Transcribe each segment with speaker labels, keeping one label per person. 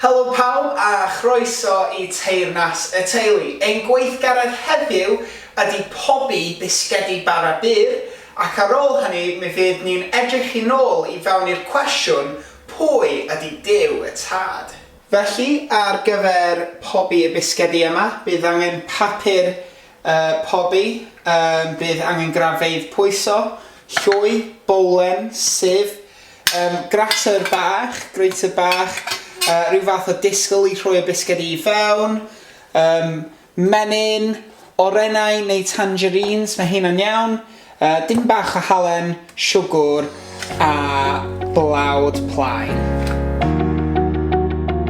Speaker 1: Helo pawb a chroeso i Teyrnas y Teulu. Ein gweithgaredd heddiw ydy pobi bisgedi bara byr ac ar ôl hynny mi fydd ni'n edrych i nôl i fewn i'r cwestiwn pwy ydy Duw y Tad? Felly ar gyfer pobi y bisgedi yma bydd angen papur pobi, bydd angen graffeidd pwyso, llwy, bowlen, sieve, Yym, grater bach, grater bach, yy, rhyw fath o disgl i rhoi y bisged i fewn. Yym, menyn, orennau neu tangerines, mae hynna'n iawn. Yy, dim bach o halen, siwgwr a blawd plaen.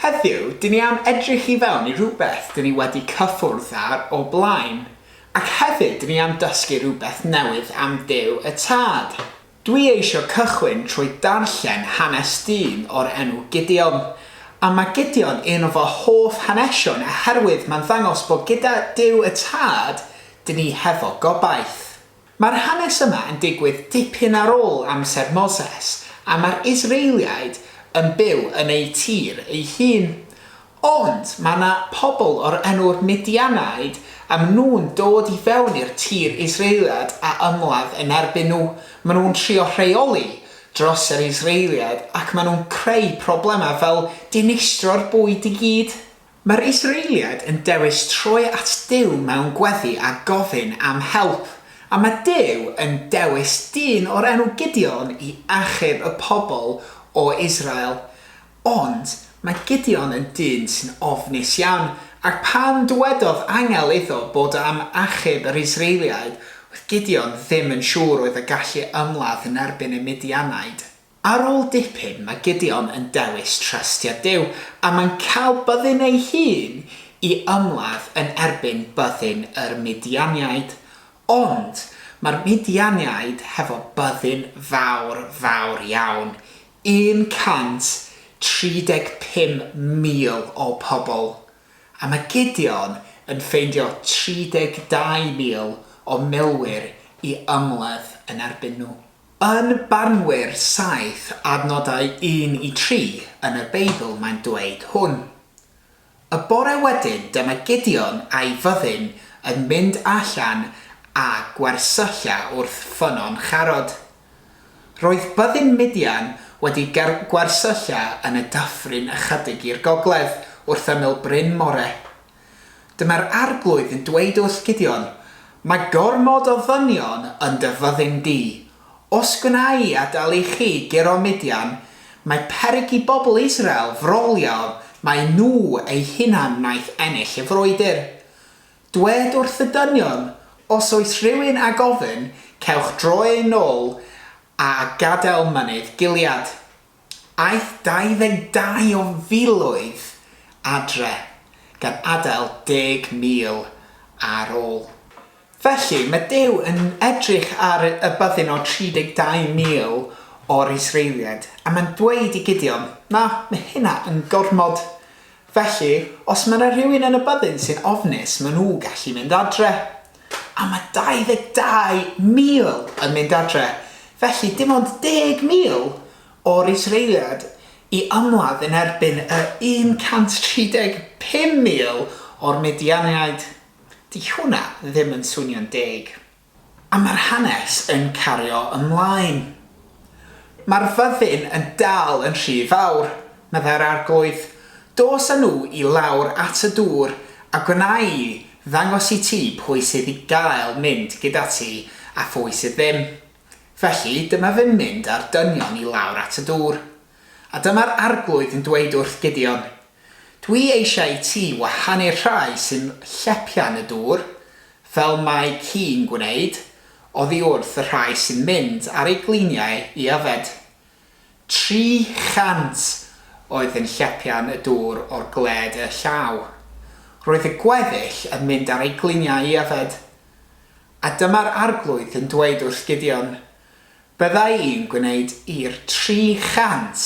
Speaker 1: Heddiw, dyn ni am edrych i fewn i rhywbeth dyn ni wedi cyffwrdd ar o blaen, ac hefyd dyn ni am dysgu rhywbeth newydd am Duw y Tad. Dwi eisiau cychwyn trwy darllen hanes dyn o'r enw Gideon. A mae Gideon un o fy hoff hanesion oherwydd mae'n ddangos bod gyda Duw y Tad, dyn ni hefo gobaith. Mae'r hanes yma yn digwydd dipyn ar ôl amser Moses a mae'r Israeliaid yn byw yn eu tir eu hun. Ond mae 'na pobl o'r enw'r Midianaid a maen nhw'n dod i fewn i'r tir Israeliad a ymladd yn erbyn nhw. Maen nhw'n trio rheoli dros yr Israeliad ac maen nhw'n creu problemau fel dinistro'r bwyd i gyd. Mae'r Israeliad yn dewis troi at Duw mewn gweddi a gofyn am help, a mae Duw yn dewis dyn o'r enw Gideon i achub y pobl o Israel. Ond mae Gideon yn dyn sy'n ofnus iawn, ac pan dywedodd angel iddo bod am achub yr Israeliaid, oedd Gideon ddim yn siŵr oedd y gallu ymladd yn erbyn y Midianaid. Ar ôl dipyn, mae Gideon yn dewis trystio Duw, a mae'n cael byddin ei hun i ymladd yn erbyn byddin yr Midianiaid. Ond mae'r Midianiaid hefo byddin fawr, fawr iawn. 135,000 o pobl, a mae Gideon yn ffeindio 32,000 o milwyr i ymladd yn erbyn nhw. Yn barnwyr saith adnodau un i tri yn y Beibl mae'n dweud hwn. Y bore wedyn dyma Gideon a'i fyddin yn mynd allan â gwersylla wrth ffynnon Charod. Roedd byddin Midian wedi gwersylla yn y dyffryn ychydig i'r gogledd, wrth ymyl Bryn More. Dyma'r Arglwydd yn dweud wrth Gideon, Mae gormod o ddynion yn dy fyddin di, Os gwna i adael i chi guro Midian, mae peryg i bobl Israel frolio mai nhw eu hunain wnaeth ennill y frwydr. Dwed wrth y dynion, Os oes rhywun â gofyn, cewch droi yn ôl a gadael mynydd Gilead. Aeth 22 o filoedd adre, gan adael deg mil ar ôl. Felly, mae Duw yn edrych ar y byddin o 32 mil o'r Israeliaid, a mae'n dweud i Gideon, Na, mae hynna yn gormod. Felly, os mae 'na rywun yn y byddin sy'n ofnus, maen nhw gallu mynd adre. a mae 22,000 yn mynd adre, felly dim ond 10,000 o'r Israeliad i ymladd yn erbyn y 135,000 o'r Midianiaid. 'Di hwnna ddim yn swnio'n deg. A mae'r hanes yn cario ymlaen. Mae'r fyddin yn dal yn rhy fawr, meddai'r Arglwydd. Dos â nhw i lawr at y dŵr, a gwna i ddangos i ti pwy sydd i gael mynd gyda ti a phwy sydd ddim. Felly, dyma fe'n mynd â'r dynion i lawr at y dŵr. A dyma'r Arglwydd yn dweud wrth Gideon, Dwi eisiau i ti wahanu'r rhai sy'n llepio'n y dŵr, fel mae ci'n gwneud, oddi wrth y rhai sy'n mynd ar eu gliniau i yfed. 300 oedd yn llepio'n y dŵr o'r gwled i'r llaw. Roedd y gweddill yn mynd ar eu gliniau i yfed. A dyma'r Arglwydd yn dweud wrth Gideon, Byddai yn gwneud i'r 300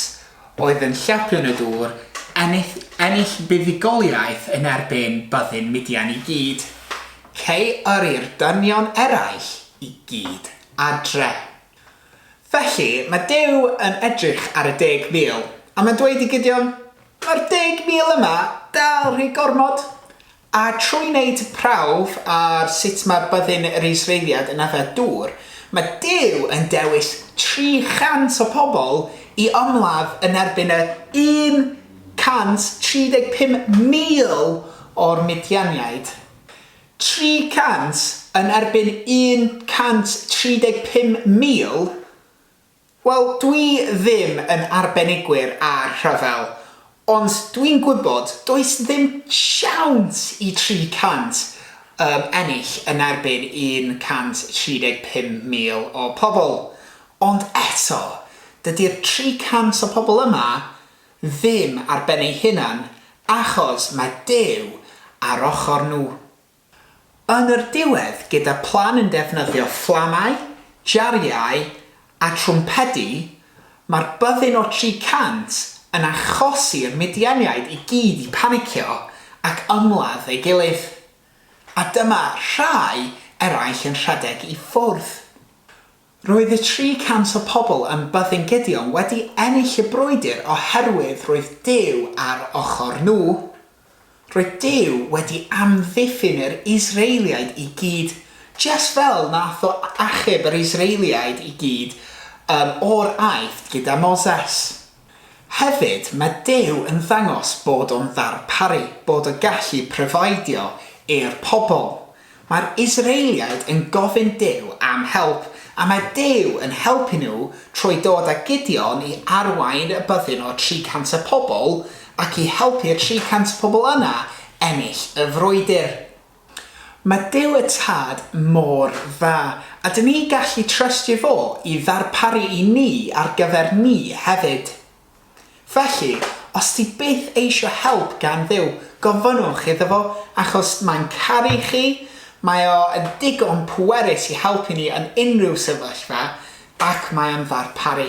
Speaker 1: oedd yn llapion y dŵr ennill ennill buddugoliaeth yn erbyn byddin Midian i gyd, cei yrru'r dynion eraill i gyd adre. Felly, mae Duw yn edrych ar y deg mil, a mae'n dweud i Gideon, Mae'r deg mil yma dal rhy gormod, A trwy wneud prawf ar sut mae byddin yr Israeliad yn yfed dŵr, mae Duw yn dewis 300 o bobl i ymladd yn erbyn y 135,000 o'r Midianiaid. 300 yn erbyn 135,000? Wel, dwi ddim yn arbenigwyr ar rhyfel, ond dwi'n gwybod does ddim siawns i 300 um, ennill yn erbyn 135,000 o pobl. Ond eto, dydy'r 300 o pobl yma ddim ar ben eu hunan, achos mae Duw ar ochr nhw. Yn yr diwedd, gyda phlan yn defnyddio fflamau, jariau a trwmpedi, mae'r byddin o 300 yn achosi'r Midianiaid i gyd i panicio ac ymladd ei gilydd. A dyma rhai eraill yn rhedeg i ffwrdd. Roedd y 300 o pobl yn byddin Gideon wedi ennill y brwydr oherwydd roedd Duw ar ochr nhw. Roedd Duw wedi amddiffyn yr Israeliaid i gyd, jest fel nath o achub yr Israeliaid i gyd yn o'r Aifft gyda Moses. Hefyd, mae Duw yn dangos bod o'n ddarparu, bod o gallu providio i'r pobl. Mae'r Israeliaid yn gofyn Duw am help, a mae Duw yn helpu nhw trwy dod â Gideon i arwain y byddin o 300 o pobl ac i helpu'r 300 pobl yna ennill y frwydr. Mae Duw y Tad mor dda. A dyn ni'n gallu trystio fo i ddarparu i ni ar gyfer ni hefyd. Felly, os ti byth eisio help gan Dduw, gofynnwch iddo fo, achos mae'n caru chi, mae o yn ddigon pwerus i helpu ni yn unrhyw sefyllfa, ac mae o'n ddarparu.